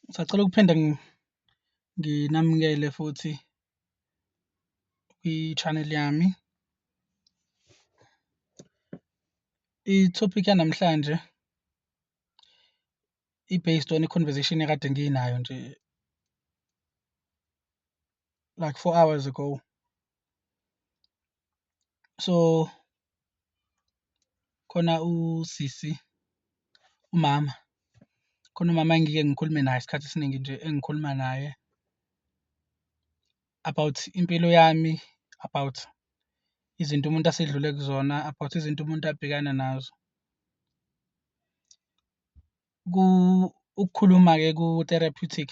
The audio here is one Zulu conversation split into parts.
Ngisacela ukuphinde nginamukele futhi kwi-channel yami. I-topic yanamhlanje i-based on i-conversation ekade nginayo nje like four hours ago. So khona usisi umama khona umama engike ngikhulume naye isikhathi esiningi nje engikhuluma naye about impilo yami, about izinto umuntu asedlule kuzona, about izinto umuntu abhekana nazo. ku ukukhuluma ke ku therapeutic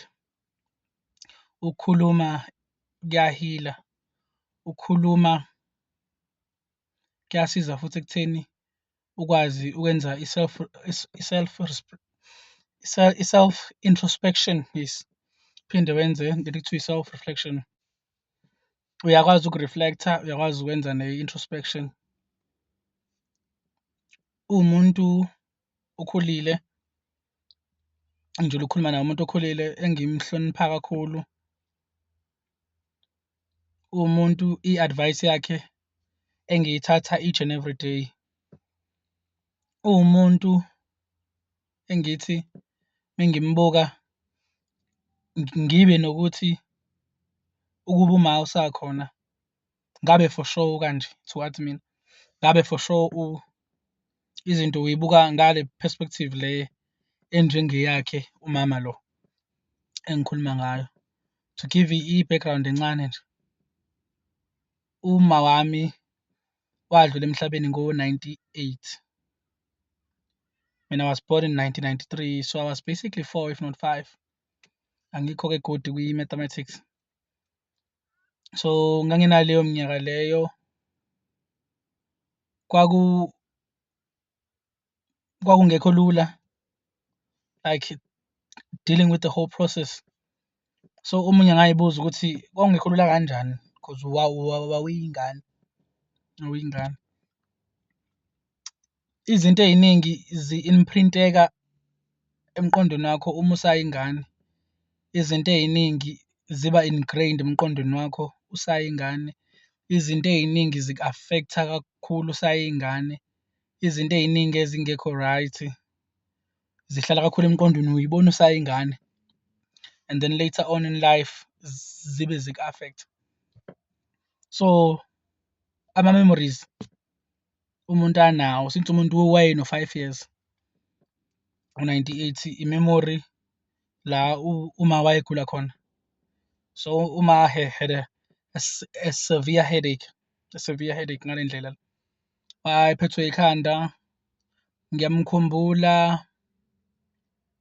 ukukhuluma kuyahila ukukhuluma kuyasiza futhi ekutheni ukwazi ukwenza i-self i-self i-self introspection yes phinde wenze into ekuthiwa i-self reflection uyakwazi uku-reflect-a uyakwazi ukwenza ne-introspection uwumuntu okhulile engijule ukukhuluma naye umuntu okhulile engimhlonipha kakhulu umuntu i-advice yakhe engiyithatha each and every day uwumuntu engithi mengimbuka ngibe nokuthi ukuba uma usakhona ngabe for sure ukanje towards mina ngabe for sure u izinto uyibuka ngale perspective le enjengeyakhe umama lo engikhuluma ngayo to give i-background encane nje uma wami wadlula emhlabeni ngo-98 mina was born in 1993 so i was basically four if not five angikho-ke good kwi-mathematics so nganginaleyo minyaka leyo kwaku kwakungekho lula like dealing with the whole process so omunye ngayibuza ukuthi kwakungekho lula kanjani because wawuyingane wawuyingane Izinto ey'ningi zi-imprinteka emqondweni wakho uma usayingane. Izinto ey'ningi ziba ingrained emqondweni wakho usayingane. Izinto ey'ningi ziku-affect-a kakhulu usayingane. Izinto ey'ningi ezingekho right zihlala kakhulu emqondweni uy'bona usayingane and then later on in life zibe ziku-affect-a. So, ama-memories. umuntu anawo since umuntu wayeno five years u-ninety-eighty i-memory la uma wayegula khona so uma he had a, a, a severe headache a severe headache ngale ndlela wayephethwe ikhanda ngiyamkhumbula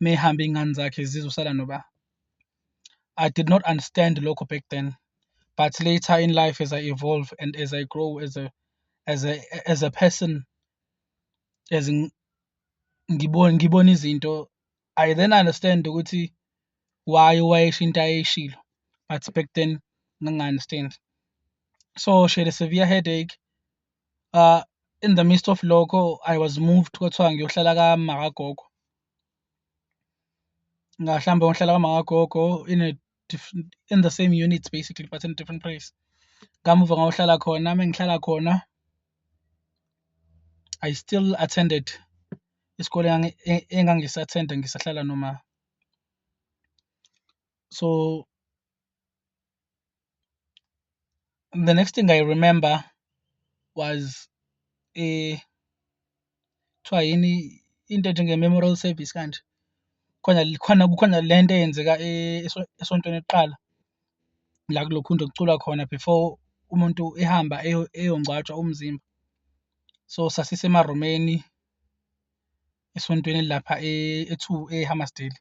mehambe iy'ngane zakhe zizosala noba I did not understand lokho back then but later in life as I evolve and as I grow as a as a as a person as ngibona ngibona izinto I then understand ukuthi why wayesho into ayeshilo but back then ngangi-understand so she had a severe headache uh in the midst of lokho I was moved kwathiwa ngiyohlala kamakagogo mhlawumbe uhlala kwamakagogo in a different in the same units basically but in a different place kamuva ngawuhlala khona mengihlala khona i still attended isikole e, engangisathenda ngisahlala noma so the next thing i remember was eh kuthiwa yini into ethi nge-memorial service kanje khona khona kukhona le nto eyenzeka e-, esontweni lokuqala la kulokhunja okuculwa khona before umuntu ehamba eyongcwatshwa umzimba so sasisemarumeni esontweni elilapha e- e-two ehammasdale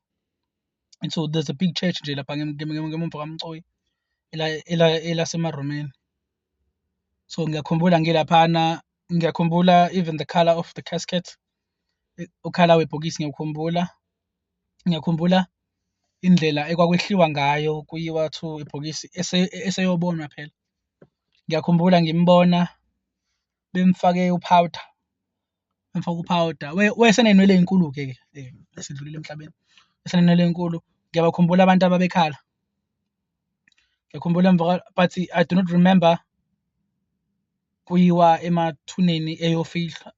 and so there's a big church nje lapha ngem- ngem- ngem- ngemumva kamcoyi ela- ela- elasemaromeni so ngiyakhumbula ngilaphana ngiyakhumbula even the color of the casket i- ukhala webhokisi ngiyakhumbula ngiyakhumbula indlela ekwakwehliwa ngayo kuyiwa to ibhokisi ese- eseyobonwa phela ngiyakhumbula ngimbona bemfake upowder Ngifaka uphawuda. Wayesenenwele ezinkulu-ke ke eh, esedlulile emhlabeni. Esenenwele ezinkulu. Ngiyabakhumbula abantu ababekhala. Ngiyakhumbula emva but I do not remember kuyiwa emathuneni eyofihlwa.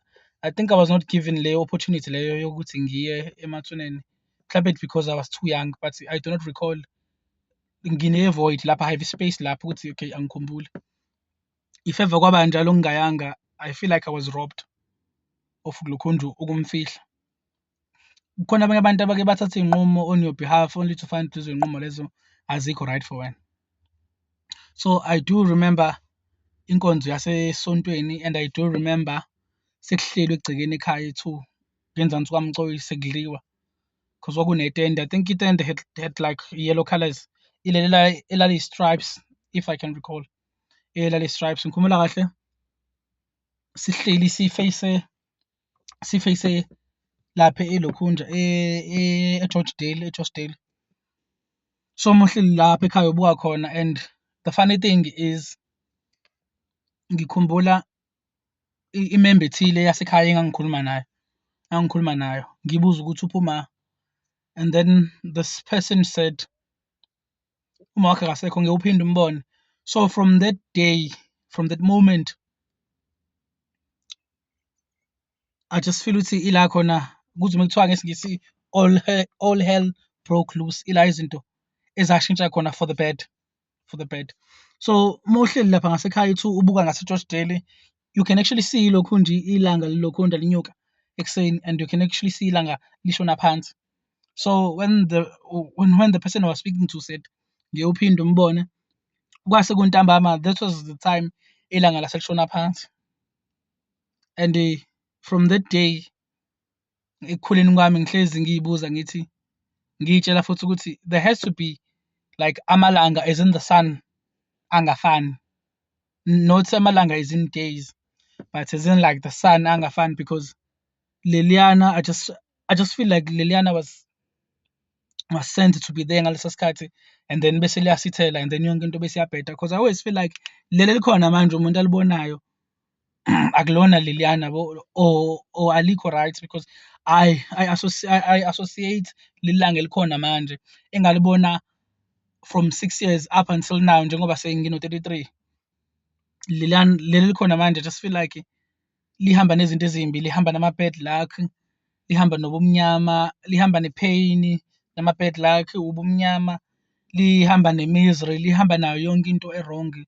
I think I was not given leyo opportunity leyo yokuthi ngiye emathuneni. Mhlawumbe it's because I was too young but I do not recall ngine-void lapha, I have space lapho ukuthi okay angikhumbuli. if ever kwaba njalo ngingayanga i feel like i was robbed of lukhunju ukumfihla kukhona abanye abantu abake bathatha iy'nqumo on your behalf only to find lezo y'nqumo lezo azikho right for wena so i do remember inkonzo yasesontweni and i do remember sekuhlelwe egcekeni ekhaya ethu ngenzansi sukamcoyi sekudliwa because kwakunetende i think itende had, had like yellow colors ileli elaliyi-stripes if i can recall elale stripes ngikhumula kahle sihleli siface siface lapha elokhunja eGeorge e, Dale eGeorge Dale so muhleli lapha ekhaya ubuka khona and the funny thing is ngikhumbula imembe ethile yasekhaya engangikhuluma nayo engangikhuluma nayo ngibuza ukuthi uphuma and then this person said uma wakhe kasekho ngeke uphinde umbone so from that day from that moment i just feel ukuthi ila khona kuthi uma kuthiwa ngesingisi all hell, all hell broke loose ila izinto ezashintsha khona for the bad for the bad so uma uhleli lapha ngasekhaya uthi ubuka ngasegeorge daily you can actually see lokhu nje ilanga lilokhu nje linyuka ekuseni and you can actually see ilanga lishona phansi so when the when, when the person I was speaking to said ngiyophinda umbone kwase kuntambama that was the time ilanga laselishona phansi and uh, from that day ekukhuleni kwami ngihlezi ngiyibuza ngithi ngiyitshela futhi ukuthi there has to be like amalanga as in the sun angafani not amalanga as in days but as in like the sun angafani because leliyana i just i just feel like leliyana was was sent to be there ngaleso sikhathi and then bese liyasithela and then yonke into bese iyabheda because i always feel like leli likhona manje umuntu alibonayo akulona leliyana bo or, or alikho right because I, I, associ I, I associate lilanga elikhona manje engalibona from six years up until now njengoba sengino-33 leli likhona manje just feel like lihamba nezinto ezimbi lihamba nama-bad luck lihamba nobumnyama lihamba ne-pain nama-bad luck ubumnyama lihamba ne-misery lihamba nayo yonke into erongi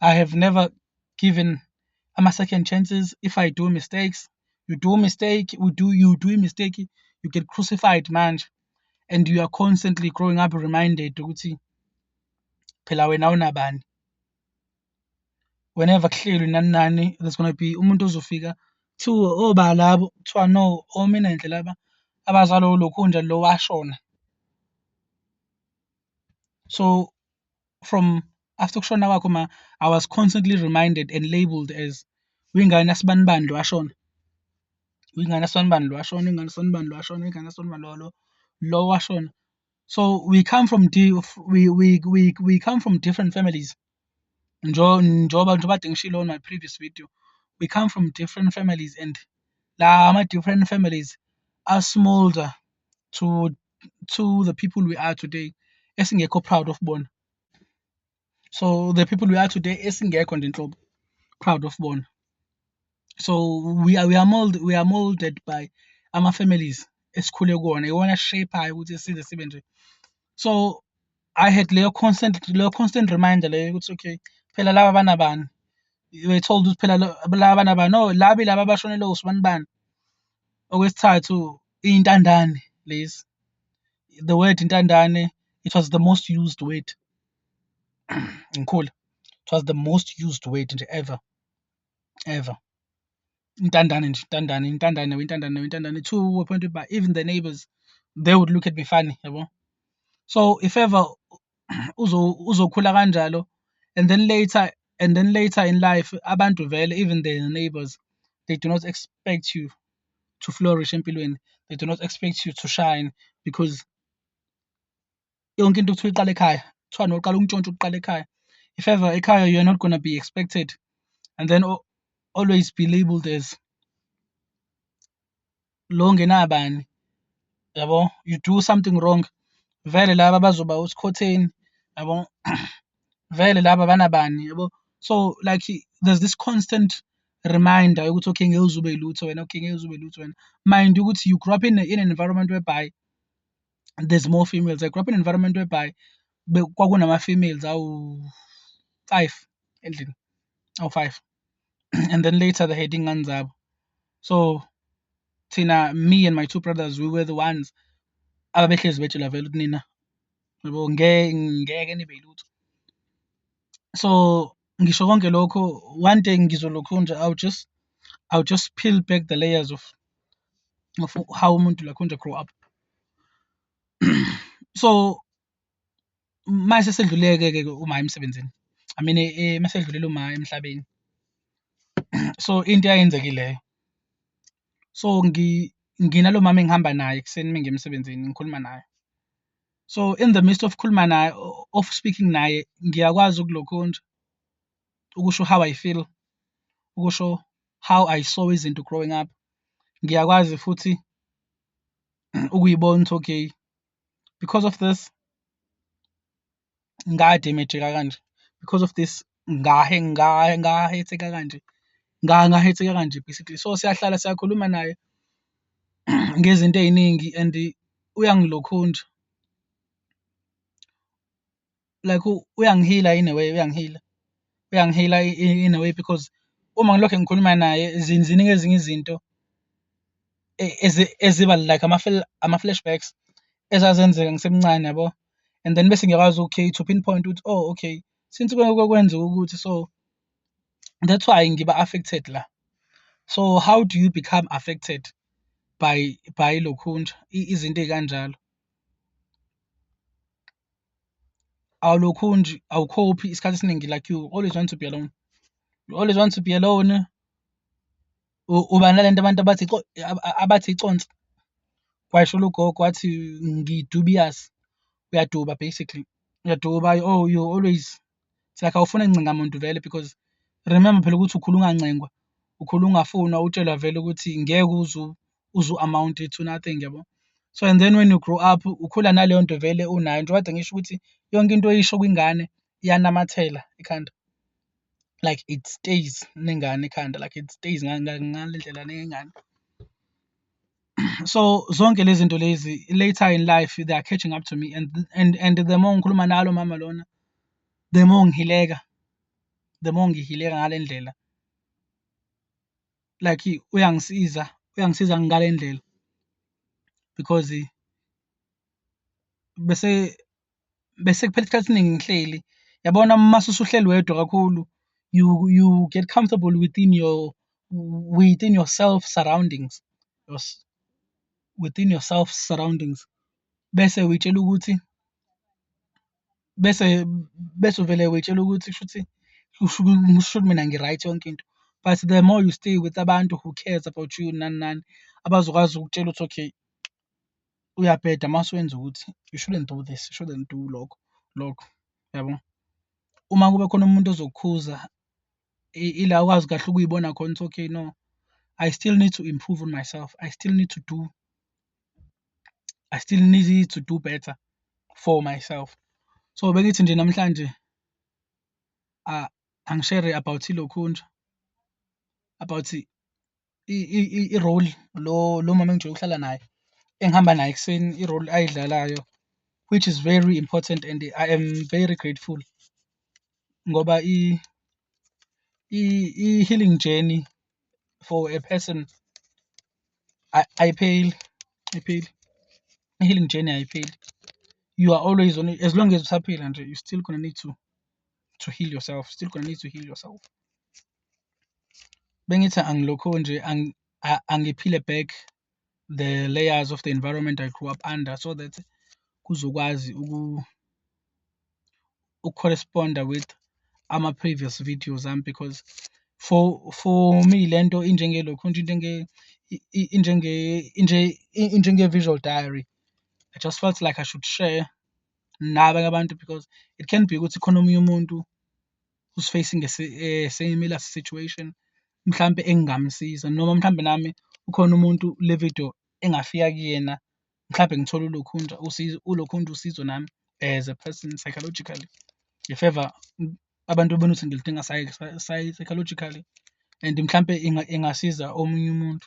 I have never given ama second chances if I do mistakes you do mistake we do you do mistake you get crucified manje and you are constantly growing up reminded ukuthi phela wena unabani whenever kuhlelwe nani nani there's going to be umuntu ozofika kuthiwa oba oh, labo kuthiwa no omina oh, nje laba abazalo lokhu nje lo washona so from after ukushona kwakho ma i was constantly reminded and labeled as uyingane asibanibani lo washona uyingane asibanibani lo washona ingane asibanibani lo washona ingane asibanibani lo lo lo washona so we come from di we, we, we, we come from different families njengoba njengoba ngishilo on my previous video we come from different families and la ama different families asmolder to to the people we are today esingekho proud of bona so the people we are today esingekho nje nhlobo proud of bona so we are we are molded we are molded by ama families esikhule kuwona iwona shape ayo ukuthi size sibe nje so i had leyo constant leyo constant reminder leyo ukuthi okay phela laba banabani we told ukuthi phela laba banabani no labi laba abashonele usibani bani Okwesithathu iy'ntandane lezi. The word intandane it was the most used word ngikhula. It was the most used word nje ever ever. Intandane nje intandane intandane intandane intandane to a point whereby even the neighbours they would look at me funny yabo. So if ever uzokhula kanjalo and then later and then later in life abantu vele even the neighbors they do not expect you to flourish empilweni they do not expect you to shine because yonke into kuthiwa iqala ekhaya kuthiwa noqala ukuntshontsha ukuqala ekhaya if ever ekhaya you're not gonna be expected and then always be labeled as lo ngenabani yabo you do something wrong vele laba bazoba usikhotheni yabo vele laba banabani yabo so like there's this constant reminder yokuthi okay ngeke uzube lutho wena okay ngeke uzube lutho wena mind ukuthi you grew up in, in an environment whereby there's more females i grew up in an environment whereby kwakunama-females awu-five endlini awu-five oh, and then later the heading Anzab. So Tina, me and my two brothers, we were the ones ababehlezi betshela vele ukuthi nina yabo ngeke nibe yilutho so ngisho konke lokho one day ngizolokhu nje i'll just i'll just peel back the layers of of how umuntu lakhonje grow up so mase sedluleke ke uma emsebenzini i mean eh, eh, masedlulele uma emhlabeni so into eyenzekileyo so ngi nginalo mama engihamba naye kuseni mina ngemsebenzini ngikhuluma naye so in the midst of khuluma naye of speaking naye ngiyakwazi ukulokhu nje ukusho how i feel ukusho how i saw izinto growing up ngiyakwazi futhi ukuyibona ukuthi okay because of this ngademejeka kanje because of this ngahe ngahe ngahetheka kanje ngangahetheka kanje basically so siyahlala siyakhuluma naye ngezinto eziningi and uyangilokhunja like uyangihila in a way uyangihila uyangihila in a way because uma ngilokhu ngikhuluma naye ziningi ezinye izinto eziba like ama-flashbacks ezazenzeka ngisemncane yabo and then bese ngiyakwazi okay to pinpoint ukuthi oh okay since kwenzeka ukuthi so that's why ngiba affected la so how do you become affected by by lokhunja izinto ezikanjalo awulokhu nje awukhophi isikhathi esiningi like you always want to be alone you always want to be alone uba nalento abantu abathi abathi iconsi kwasho lugogo wathi ngidubious uyaduba basically uyaduba oh you always it's like awufuna ncinga muntu vele because remember phela ukuthi ukhula ungancengwa ukhula ungafunwa utshelwa vele ukuthi ngeke uzu uzu amount to nothing yabo so and then when you grow up ukhula naleyo nto vele unayo njengoba kade ngisho ukuthi yonke into oyisho kwingane iyanamathela ekhanda like it stays nengane ekhanda like it stays ngale ndlela nengane. so zonke lezi zinto lezi later in life they are catching up to me and and and the more ngikhuluma nalo mama lona the more ngihileka the more ngihileka ngale ndlela like uyangisiza uyangisiza ngale ndlela because bese bese kuphela isikhathi esiningi ngihleli yabona uma usuhleli wedwa kakhulu you you get comfortable within your within yourself surroundings within yourself surroundings bese uyitshela ukuthi bese bese uvele uyitshela ukuthi kushuthi kushuthi mina ngi-right yonke into but the more you stay with abantu who cares about you nani nani abazokwazi ukutshela ukuthi okay uyabheda uma usuwenza ukuthi you shouldn't do this, you shouldn't do lokho lokho, yabo. Uma kube khona umuntu ozokukhuza ila ukwazi kahle ukuyibona khona ukuthi okay no I still need to improve on myself. I still need to do I still need to do better for myself. So bengithi nje namhlanje uh, angishere about ilokhu nje about i-role lo lo mama engijwayele ukuhlala naye engihamba naye ekuseni i-role ayidlalayo which is very important and I am very grateful ngoba i-healing journey for a person ayipheli ayipheli i-healing journey ayipheli you are always on as long as usaphila nje you still gonna need to to heal yourself still gonna need to heal yourself. bengithi angilokho nje angiphile back the layers of the environment I grew up under so that kuzokwazi uku ucorrespond with ama previous videos am because for for me lento injenge lokho nje injenge injenge injenge visual diary I just felt like I should share nabanye abantu because it can be ukuthi khona omunye umuntu who's facing a, a eh, similar situation mhlampe engingamsiza noma mhlampe nami ukhona umuntu le video engafika kuyena mhlampe ngithole ulokhunja usizo ulokhunja usizo nami as a person psychologically if ever abantu bebona ukuthi ngilidinga psychologically and mhlampe ingasiza omunye umuntu